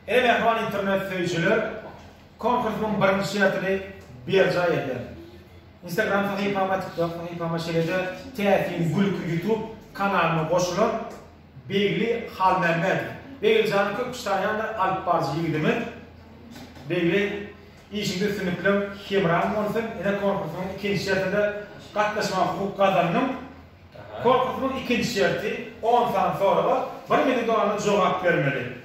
Eý mähriban internet söýüjiler, konkursynyň birinji şertini berjaý ederin. Instagram sahypama, TikTok sahypama şeýle-de täsin gülki YouTube kanalyma goşulan Begli Halmämmedow. Begli jan köp kişi tanaýandyr alyp baryjy ýigidimi. Begli işiňde üstünlikleň hemraň bolsun. Ine konkursynyň ikinji şertinde gatnaşmaga hukuk gazandyň. Korpusynyň ikinji şerti, on sany soraga bir minudana jogap bermeli.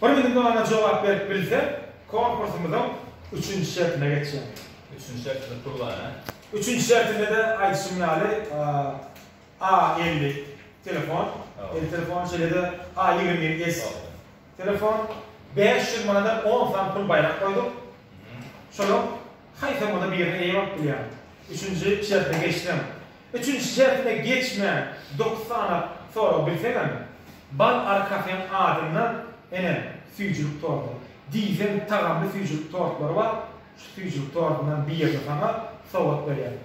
Bir minudana jogap berip bilseň, korpusymyzyň üçünji şertine geçýäň. Üçünji şertimiz pul bar, hä? Üçünji şertinde-de aýdyşym ýaly, A elli telefon, el telefony, şeýle-de A ýigrimi ýedi S telefon, bäş ýüz manada on sany pul baýrak goýduk. Şolar. Haýsymyzy birine eýe bolup bilýäň? Üçünji şertine geçseň. Üçünji şertine geçmän dokuz sany sorag bilseňem, bal arkasen adyndan, ene, süýjülik tordy, diýseň tagamly süýjülik tortlary bar, şu süýjülik tordundan birini saňa sowgat berýän.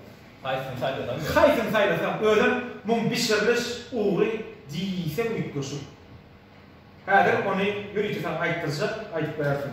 Haýsyny saýlasaň diýýän. Haýsyny saýlasaň, özem muň bişiriliş ugry diýseň üýtgeşik. Häzir ony ýörite saňa aýtdyrjak, aýdyp berersiň.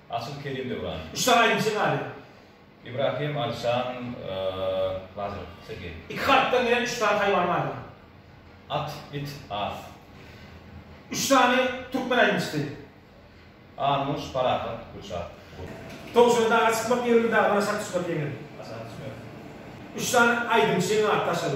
Asyl Kerim Döwran. Uçsam aýdymçy galy. Ibrahim Alişan Lazarew, Sergeý. Iki harpdan gelen üç sany haýwan bardy. At, it, az. Üç sany türkmen aýdymçysy. Armuş, Parahat, Gülşat, Gul. Towşan daga çykmak ýeňil, dagdan aşak düşmek ýeňil. Aşak düşmek. Üç sany aýdymçynyň ady daşary.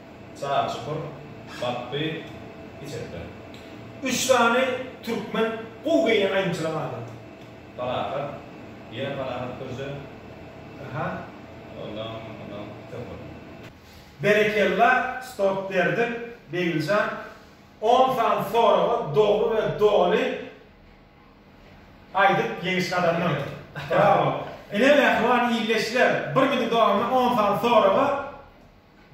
Sag çukur, batdy, içekden. Üç sany türkmen gowy geýnen aýdymçylaň ady? Parahat, ýene Parahat Gürje. Aha, ondan, ondan köp boldy. Berekella stop berdim Begiljan on sany soraga dogry we doly aýdyp ýeňiş gazandyň. Brawo. Ine mähriban ildeşler bir günüň dowamynda on sany soraga.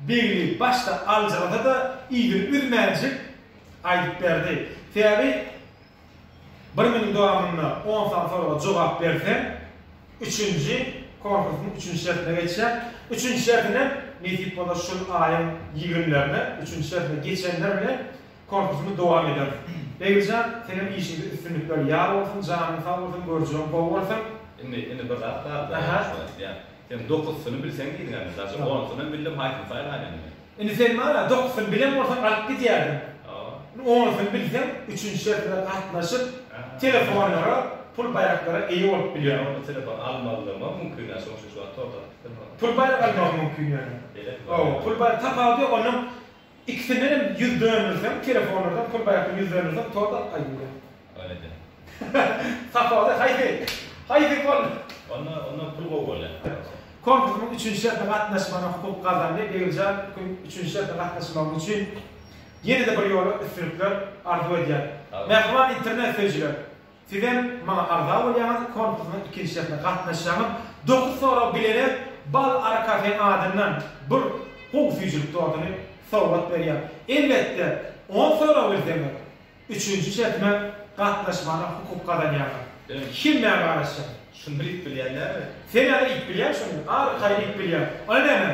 Begli başda aljyrasa-da, yzyny üzmänjik aýdyp berdi. Sebäbi bir günüň dowamynda on sany soraga jogap berseň, üçünji konkursyň üçünji şertine geçýäň. Üçünji şerti ne? Nesip bolsa şul aýyň ýigrimlerine üçünji şertine geçenler bilen konkursymy dowam ederis. Beglijan, senem işiňde üstünlikler ýar bolsun, janyň sag bolsun, görjegiň gowy bolsun! Indi, indi bir zat bar, Aha. Sen dokusyny bilseň diýdiň ähli daşy onusynam bildim haýsyny saýlaýyn indi. Indi sen maňa dokusyny bilen bolsaň alyp gidýärdim. Indi onusyny bilseň üçünji şert bilen gatnaşyp telefonlara pul baýraklara eýe bolup bilýäň. Onda telefon almazlygymam mümkin däl şoň üçin şu wagt torda atyp bilmän otyryn. Pul baýrak almagyň mümkin ýöne. Belet mi? Hawa pul baýrak tapawudy ýok ondan Ikisinenem ýüz dönürseň telefonlardan pul baýakdan ýüz dönürseň tort alyp gaýdyber. Ol eden. Sapagy haýsy? Haýsy bol. Onda onda pul gowy bolýar. Konkursyň üçünji şerti gatnaşmagyna hukuk gazandy. Begimjan kün üçünji şerte gatnaşmagyň üçin ýene-de bir ýola üstünlikler arzuw edýän. Mähriban internet söýüjiler. Sizem maňa agza bolýaňyz konkursynyň ikinji şertine gatnaşýaňyz dokuz sorag bilene bal ary kafe adyndan bir gowy süýjülik tortuny sowgat berýär elbetde on sorag bilseňiz üçünji şertime gatnaşmana hukuk gazanýaňyz men hemmäňe garaşýan. Şuny bir iýip bilýän dälmi? Sen ýaly iýip bilýän şuny, ary kaýa iýip bilýän. Ony näme?